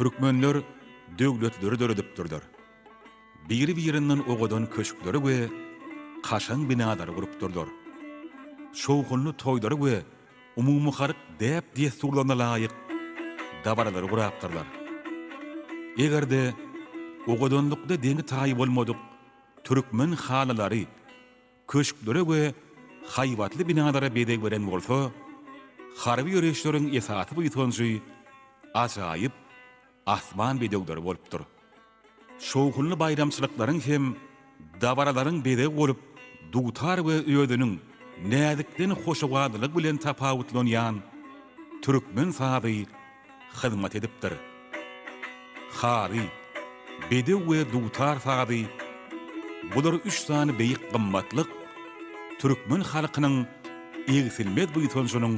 Türkmenler döwletleri döredipdirler. Biri-birinden owadan köşkleri we kaşaň binalary gurupdyrlar. Şowhunly toýlary we umumyhalk däp-dessurlaryna laýyk dabaralary gurapdyrlar. Eger-de owadanlykda deňi-taýy bolmadyk türkmen halylary köşklere we haýbatly binalara bezeg beren bolsa, harby ýöriýişleriň esasy buýsanjy ajaýyp asman bedewleri bolupdyr. Şowhunly baýramçylyklaryň hem dabaralaryň bezegi bolup dutar we özüniň näzikden hoşawadlylygy bilen tapawutlanýan türkmen sazy hyzmat edipdir. Haly, bedew we dutar sazy, bular üç sany beýik gymmatlyk türkmen halkynyň egsilmez buýsanjynyň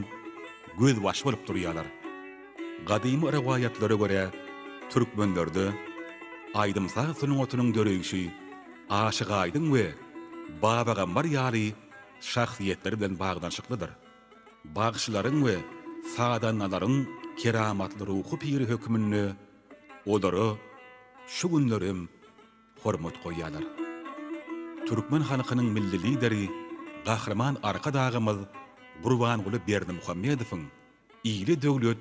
gözbaşy bolup durýarlar. Gadymy rowaýatlara görä, türkmenlerde aýdym-saz sungatynyň döreýşi Aşyk Aýdyň we Baba Gambar ýaly şahsyýetler bilen baglanyşyklydyr. Bagşylaryň we sazandalaryň keramatly ruhy piri hökmünde olara şu günler hem hormat goýýarlar. Türkmen halkynyň Milli Lideri Gahryman Arkadagymyz Gurbanguly Berdimuhamedowyň Ýyly döwlet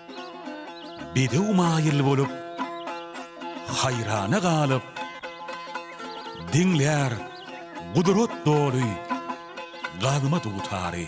Bedew maýyl bolup, haýrana galyp, Diňlär gudrat doly gazma dutary.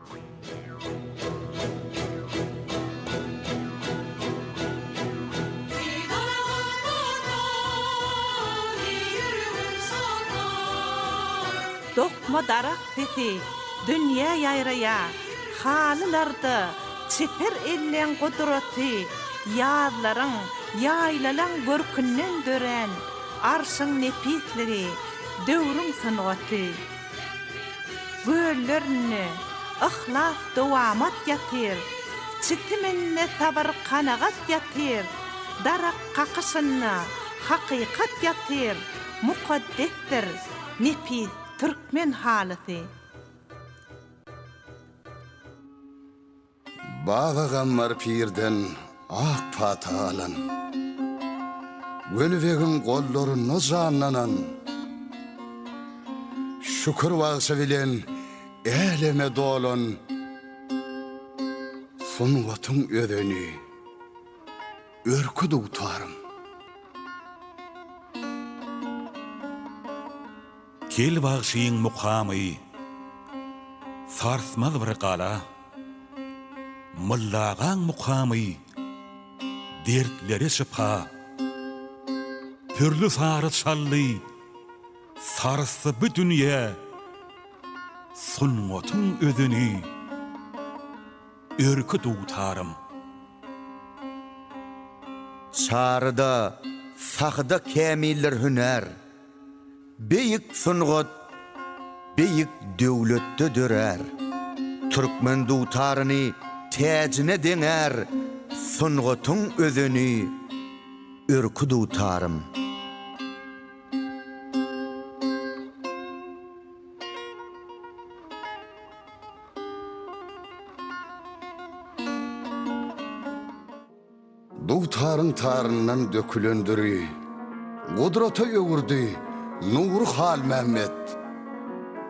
Dokma darak sesi dünýä ýaýraýa, Halylarda çeper elleň gudraty, Ýazlaryň, ýaýlalaň görkünden dörän, Arşyň nepisligi, döwrüň sungaty. Göllerinde yhlas dowamat ýatyr, Çitiminde sabyr kanagat ýatyr, Darak kakyşynda hakykat ýatyr, Mukaddesdir nepis türkmen halysy. Baba Gammar pirden ak pata alan, Weli begiň gollarynda janlanan, Şükür bagşy bilen äleme dolan, Sungatyň özeni, örki dutarym. Kel bagşyň mukamy, Sarsmaz bir gala. Molla agaň mukamy, Dertlere şypa. Pürli sary çaldy, Sarsdy bu dünýä, Sungatyň özüni, Örki dutarym. Çaryda, sahyda kämiller hünär. Beýik sungat beýik döwletde dörär. Türkmen dutaryny täjine deňär sungatyň özeni Örki dutarym. Dugtaryň taryndan dökülen düri, Gudrata öwürdi nury Halmämmet.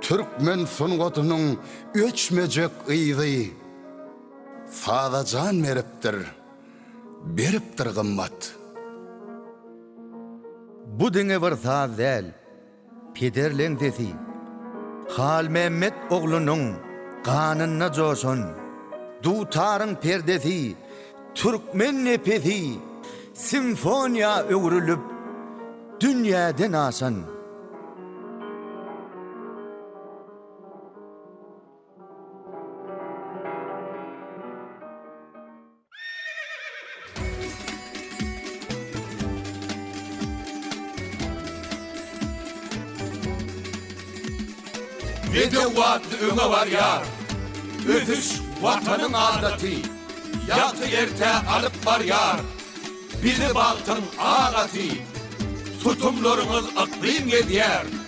Türkmen sungatynyň öçmejek yzy, Saza jan beripdir, beripdir gymmat. Bu diňe bir saz däl. Peder leňzesi, Halmämmet oglunyň ganynda joşan dutaryň perdesi türkmen nepesi simfoniýa öwrülip dünýäden aşan. Bedew watly öňe barýar. Ösüş watanyň adaty. Ýagty erte alyp barýar. Bizi bagtyň agaty. Tutumlaryňyz yklym gezýär.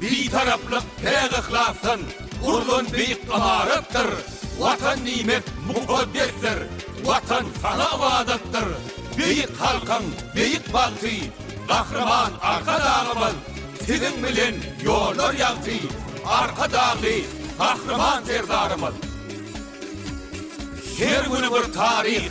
Bitaraplyk päk yhlasdan gurlan beýik ymaratdyr, Watan diýmek mukaddesdir, Watan saňa ybadatdyr. Beýik halkyň beýik bagty, Gahryman Arkadagymyz, Siziň bilen ýollar ýagty, Arkadagly Gahryman Serdarymyz! Her güni bir taryh.